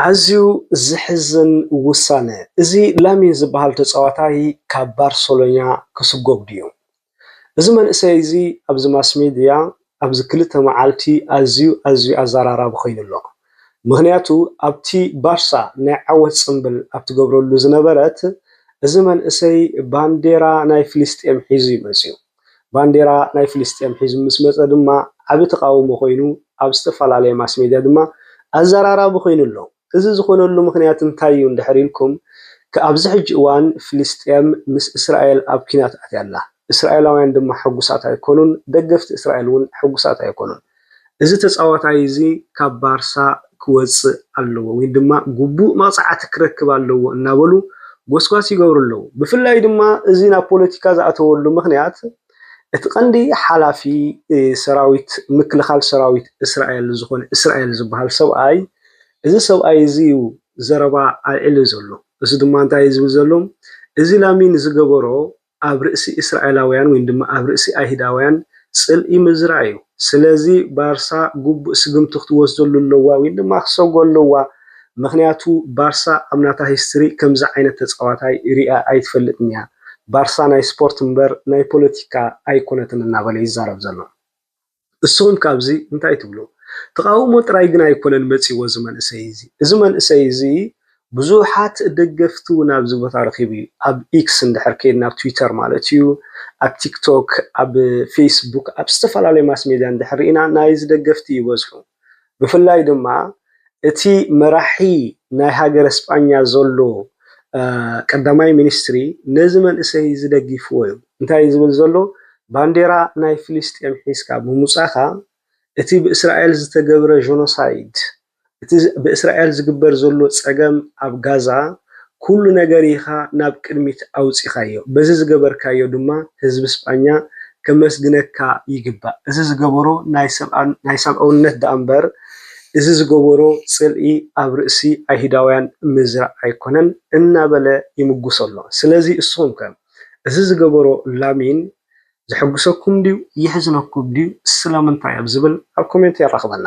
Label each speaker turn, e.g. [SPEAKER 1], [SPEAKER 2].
[SPEAKER 1] ኣዝዩ ዝሕዝን ውሳነ! እዚ ላሚን ዝበሃል ተጻዋታይ ካብ ባርሰሎኛ ክስጎግ ድዩ? እዚ መንእሰይ እዚ ኣብዚ ማስሜድያ ኣብዚ ክልተ መዓልቲ ኣዝዩ ኣዝዩ ኣዘራራቢ ኮይኑ ኣሎ። ምኽንያቱ ኣብቲ ባርሳ ናይ ዓወት ጽምብል ኣብ ትገብረሉ ዝነበረት እዚ መንእሰይ ባንዴራ ናይ ፍልስጤም ሒዙ እዩ መጺኡ። ባንዴራ ናይ ፍልስጤም ሒዙ ምስ መጸ ድማ ዓቢ ተቓውሞ ኮይኑ ኣብ ዝተፈላለየ ማስ ሜድያ ድማ ኣዘራራቢ ኮይኑ ኣሎ። እዚ ዝኾነሉ ምኽንያት እንታይ እዩ እንድሕር ኢልኩም ከ ኣብዚ ሕጂ እዋን ፍልስጤም ምስ እስራኤል ኣብ ኲናት ኣትያ ኣላ። እስራኤላውያን ድማ ሕጉሳት ኣይኮኑን፣ ደገፍቲ እስራኤል እውን ሕጉሳት ኣይኮኑን። እዚ ተጻዋታይ እዚ ካብ ባርሳ ክወጽእ ኣለዎ ወይ ድማ ግቡእ መቕጻዕቲ ክረክብ ኣለዎ እናበሉ ጎስጓስ ይገብሩ ኣለዉ። ብፍላይ ድማ እዚ ናብ ፖለቲካ ዝኣተወሉ ምኽንያት እቲ ቀንዲ ሓላፊ ሰራዊት ምክልኻል ሰራዊት እስራኤል ዝኾነ እስራኤል ዝበሃል ሰብኣይ እዚ ሰብኣይ እዚ እዩ ዘረባ ኣልዒሉ ዘሎ። እዚ ድማ እንታይ እዩ ዝብል ዘሎ እዚ ላሚን ዝገበሮ ኣብ ርእሲ እስራኤላውያን ወይን ድማ ኣብ ርእሲ ኣይህዳውያን ጽልኢ ምዝራእ እዩ ስለዚ ባርሳ ጉቡእ ስግምቲ ክትወስደሉ ኣለዋ ወይን ድማ ክሰጎ ኣለዋ ምክንያቱ ባርሳ ኣብ ናታ ሂስትሪ ከምዚ ዓይነት ተጻዋታይ ሪኣ ኣይትፈልጥን እያ ባርሳ ናይ ስፖርት እምበር ናይ ፖለቲካ ኣይኮነትን እናበለ ይዛረብ ዘሎ። እስኹም ከ ኣብዚ እንታይ ትብሉ? ተቓውሞ ጥራይ ግን ኣይኮነን መጺዎ እዚ መንእሰይ እዚ። እዚ መንእሰይ እዚ ብዙሓት ደገፍቲ እውን ኣብዚ ቦታ ረኺቡ እዩ። ኣብ ኢክስ እንድሕር ከይድና ኣብ ትዊተር ማለት እዩ፣ ኣብ ቲክቶክ፣ ኣብ ፌስቡክ፣ ኣብ ዝተፈላለዩ ማስሜድያ እንድሕር ርኢና ናይዚ ደገፍቲ ይበዝሑ። ብፍላይ ድማ እቲ መራሒ ናይ ሃገረ ስጳኛ ዘሎ ቀዳማይ ሚኒስትሪ ነዚ መንእሰይ እዚ ደጊፍዎ እዩ። እንታይ እዩ ዝብል ዘሎ ባንዴራ ናይ ፍልስጤም ሒዝካ ብምውጻኻ እቲ ብእስራኤል ዝተገብረ ጆኖሳይድ እቲ ብእስራኤል ዝግበር ዘሎ ጸገም ኣብ ጋዛ ኩሉ ነገር ኢኻ ናብ ቅድሚት ኣውጺኻዮ። በዚ ዝገበርካዮ ድማ ህዝቢ ስጳኛ ከመስግነካ ይግባእ። እዚ ዝገበሮ ናይ ሰብኣውነት ደኣምበር እዚ ዝገበሮ ጽልኢ ኣብ ርእሲ ኣይሁዳውያን ምዝራእ ኣይኮነን እናበለ ይምጉሶ ኣሎ። ስለዚ እስኹምከ እዚ ዝገበሮ ላሚን ዘሕጉሰኩም ድዩ የሕዝነኩም ድዩ ስለምንታይ ኣብ ዝብል ኣብ ኮሜንት የራኽበና።